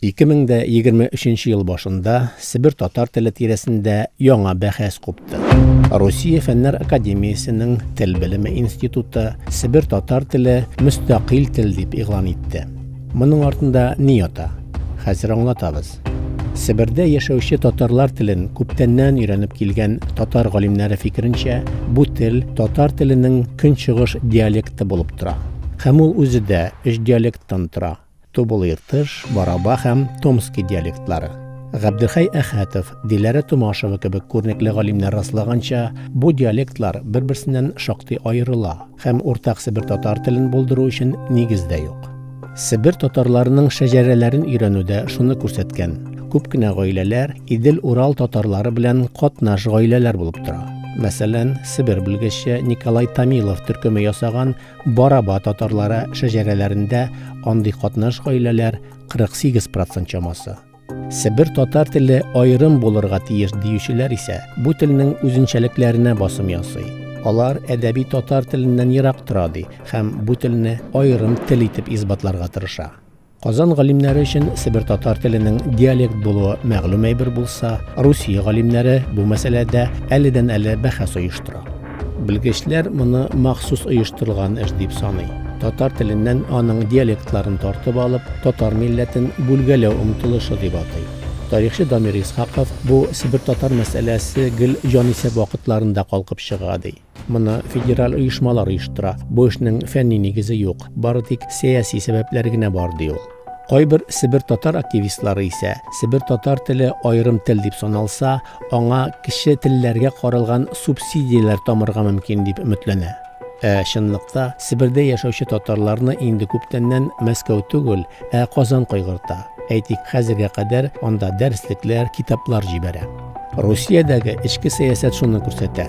2023 ел башында Себер татар теле тирәсендә яңа бәхәс купты. Россия Фәннәр академиясенең Тел белеме институты Себер татар теле мөстәкыйль тел дип игълан итте. Моның артында ни ята? Хәзер аңлатабыз. Себердә яшәүче татарлар телен күптәннән өйрәнеп килгән татар галимнәре фикеренчә, бу тел татар теленең көнчыгыш диалекты булып тора. Һәм ул үзе дә өч диалекттан тора. Тубыл Иртыш, Бараба һәм Томски диалектлары. Габделхәй Әхәтов, Диләрә Томашева кебек күренекле галимнәр раслаганча, бу диалектлар бер-берсеннән шактый аерыла һәм уртак себер татар телен булдыру өчен нигез дә юк. Себер татарларының шәҗәрәләрен өйрәнү дә шуны күрсәткән, күп кенә гаиләләр Идел-Урал татарлары белән катнаш гаиләләр булып тора. Мәсәлән, Себер белгече Николай Томилов төркеме ясаган Бараба татарлары шәҗәрәләрендә андый катнаш гаиләләр 48 процент чамасы. Себер татар теле аерым булырга тиеш диючеләр исә бу телнең үзенчәлекләренә басым ясый. Алар әдәби татар теленнән ерак тора ди һәм бу телне аерым тел итеп исбатларга тырыша. Казан галимнәре өчен себер татар теленең диалект булуы мәгълүм әйбер булса, Русия галимнәре бу мәсьәләдә әледән-әле бәхәс оештыра. Белгечләр моны махсус оештырылган эш дип саный. Татар теленнән аның диалектларын тартып алып, татар милләтен бүлгәләү омтылышы дип атый. Тарихчы Дамир Исхаков бу себер татар мәсьәләсе гел җанисәп вакытларында калкып чыга, ди. Моны федераль оешмалар оештыра. Бу эшнең фәнни нигезе юк, бары тик сәяси сәбәпләр генә бар, ди ул. Кайбер себер татар активистлары исә, себер татар теле аерым тел дип саналса, аңа кече телләргә каралган субсидияләр тамырга мөмкин дип өметләнә. Ә чынлыкта Себердә яшәүче татарларны инде күптәннән Мәскәү түгел, ә Казан кайгырта. Әйтик, хәзергә кадәр анда дәреслекләр, китаплар җибәрә. Русиядәге эчке сәясәт шуны күрсәтә.